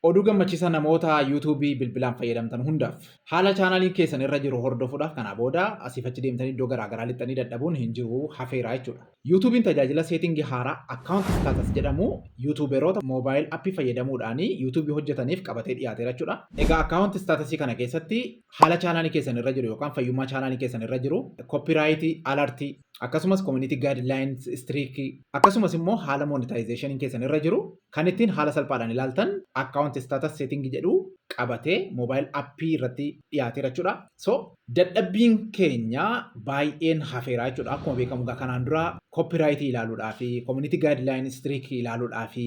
Oduu gammachiisaa namoota YouTube bilbilaan fayyadamtan hundaaf. Haala chaanaliin keessan irra jiru hordofuudhaaf kanaa booda asiif achi deemtanii iddoo garaa garaa lixxanii dadhabuun hin jiru, hafeera jechuudha. YouTube'n tajaajila seetingii haaraa Account Status jedhamu YouTuberoota Mobile App fayyadamuudhaan YouTube hojjetaniif qabatee dhiyaateera jechuudha. Egaa Account Status kana keessatti haala chaanaalii keessan irra jiru yookaan fayyummaa chaanaalii keessan irra jiru, Copyright, Alert, akkasumas community guidelines streak akkasumas immoo haala monetization keessan irra jiru kan ittiin haala salphaadhaan ilaaltan account status setting jedhu qabatee mobile app irratti dhiyaateera jechuudha. So dadhabbiin keenya baay'een hafeera jechuudha. Akkuma beekamu gaa kanaan dura copyright ilaaluudhaa fi community guideline streak ilaaluudhaa fi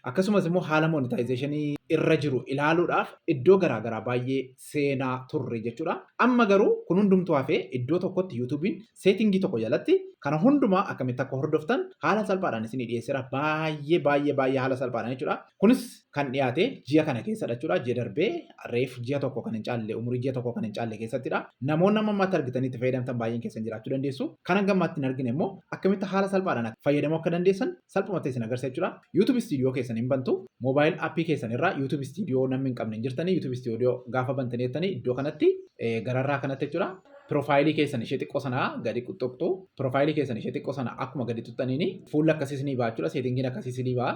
akkasumas immoo haala monetization irra jiru ilaaluudhaaf iddoo garaagaraa baay'ee seenaa turre jechuudha. Amma garuu kun hundumtuu hafee iddoo tokkotti YouTube'n Setting tokko jalatti kana hundumaa akkamitti akka hordoftan haala salphaadhaan isinii dhiyeessera. Baay'ee baay'ee baay'ee haala salphaadhaan jechuudha. Kunis kan dhiyaate ji'a kana keessadha jechuudha. Ji'a darbee reef ji'a tokko kan hin caalle umurii ji'a tokko kan hin caalle keessattidha. Namoonni amma ammaatti argitanii itti fayyadamtan baay'een keessan jiraachuu dandeessu. Kan hanga ammaatti hin argine immoo akkamitti haala salphaadhaan fayyadamuu akka dandeessan salphumatti isin agarsiisa jechuudha. YouTube Studio keessan hin bantu. Mobile appii keessan irraa YouTube Studio namni hin qabne hin jirtanii YouTube Studio gaafa bantanii jettanii iddoo kanatti gararraa kanatti jechuudha. Piroofaayilii keessan ishee xiqqoo sana gadi xuqxu. Piroofaayilii keessan ishee xiqqoo sana akkuma gadi xuqxaniin fuulli akkasiis ni ba'a jechuudha. Seetingiin akkasiis ni ba'a.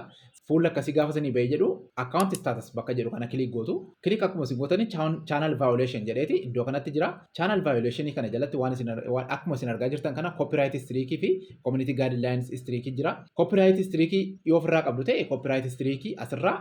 Fuulli akkasii gaafa isinii ba'ee jedhu akkaawunti istaatas bakka jedhu kana kiliik gootu. Kiliik akkuma isin gootanii chaanal vaayooleeshin jedheeti iddoo kanatti jira. Chaanal vaayooleeshinii kana jalatti waan isin akkuma isin argaa jirtan kana koopiraayit istiriikii fi koominitii gaadilaayins istiriikii jira. Koopiraayit istiriikii yoo ofirraa qabdu ta'e koopiraayit istiriikii asirraa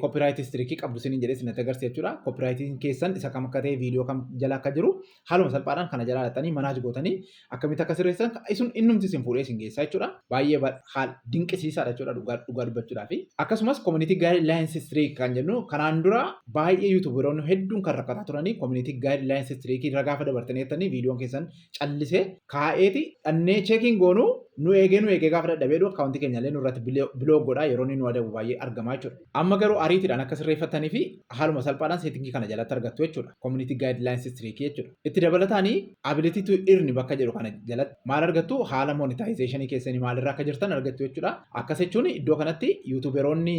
copyright history qabdu sinin jedhee sinatti agarsiisa jechuudha. Copyrightiin keessan isa kam akka ta'e viidiyoo kam jala akka jiru haaluma salphaadhaan kana jala laxanii manaaj gootanii akkamitti akka sirreessan isun innumti isin fuudhee isin geessaa jechuudha. Baay'ee haal dinqisiisaadha jechuudha dhugaa dhugaa dubbachuudhaaf. Akkasumas community guidelines history kan jennu kanaan dura baay'ee yuutuuberoonni hedduun kan rakkataa turanii community guidelines history irra gaafa dabartanii jettanii viidiyoon keessan callisee kaa'eeti dhannee cheekiin goonu nu eegee nu eegee gaafa dadhabee dhu akkaawuntii keenya illee nurratti biloog godhaa yeroo inni nu adabu baay'ee argamaa jechuudha. Amma garuu ariitiidhaan akka sirreeffattanii fi haaluma salphaadhaan seetingii kana jalatti argattu jechuudha. Community Guidelines Streak jechuudha. Itti dabalataanii Ability to Earn bakka jedhu kana jalatti maal argattu haala monetization keessanii maalirra akka jirtan argattu jechuudha. Akkas jechuun iddoo kanatti yuutuuberoonni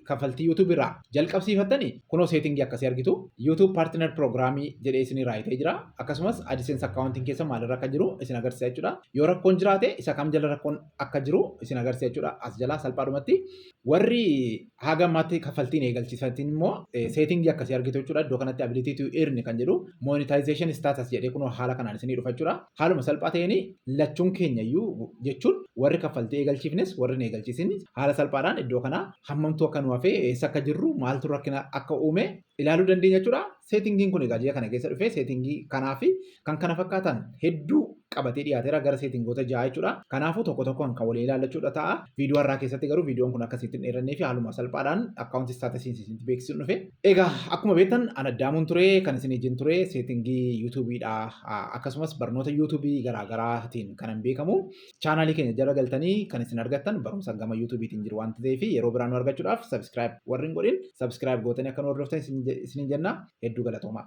kaffaltii yuutuubii irraa jalqabsiifattani kunoo setting akkasii argitu YouTube partner program jedhee isinii raayitee jira akkasumas AdSense accounting keessa maalirra akka jiru isin agarsiisa jechuudha yoo rakkoon jiraate isa kam jala rakkoon akka jiru isin agarsiisa jechuudha as jalaa salphaadhumatti warri haga ammaatti kaffaltiin eegalchiisatiin immoo setting akkasii argitu jechuudha iddoo kanatti ability to earn kan jedhu monetization status jedhee kunoo haala kanaan isinii dhufa jechuudha Haaluma salphaa ta'een lachuun keenya iyyuu jechuun warri kaffaltii eegalchiifnes warri hin eegalchiisinis haala salphaadhaan iddoo kanaa hammamtuu akka nu hafee eessa akka jirru maaltu rakkina akka uume ilaaluu dandeenya jechuudha. Seetingiin kun egaa ji'a kana keessa dhufee seetingii kanaa fi kan kana fakkaatan hedduu qabatee dhiyaateera gara seetingoota ja'a jechuudha. Kanaafuu tokko tokkoon kan walii ilaallachuudha ta'a. Viidiyoo har'aa keessatti garuu viidiyoon kun akka sitti hin dheerannee fi haaluma salphaadhaan akkaawuntii istaatasiin sitti beeksisuun dhufe. Egaa akkuma beektan an addaamuun ture kan isin ijin ture seetingii yuutuubiidha akkasumas barnoota yuutuubii garaagaraatiin kanan beekamu chaanaalii keenya jala galtanii kan isin argattan barumsa gama yuutuubiitiin jiru waan ta'eef yeroo biraa nu argachuudhaaf sabiskiraayib warri hin godhin sabiskiraayib gootanii akka nu hordoftan isiniin jenna hedduu galatoomaa.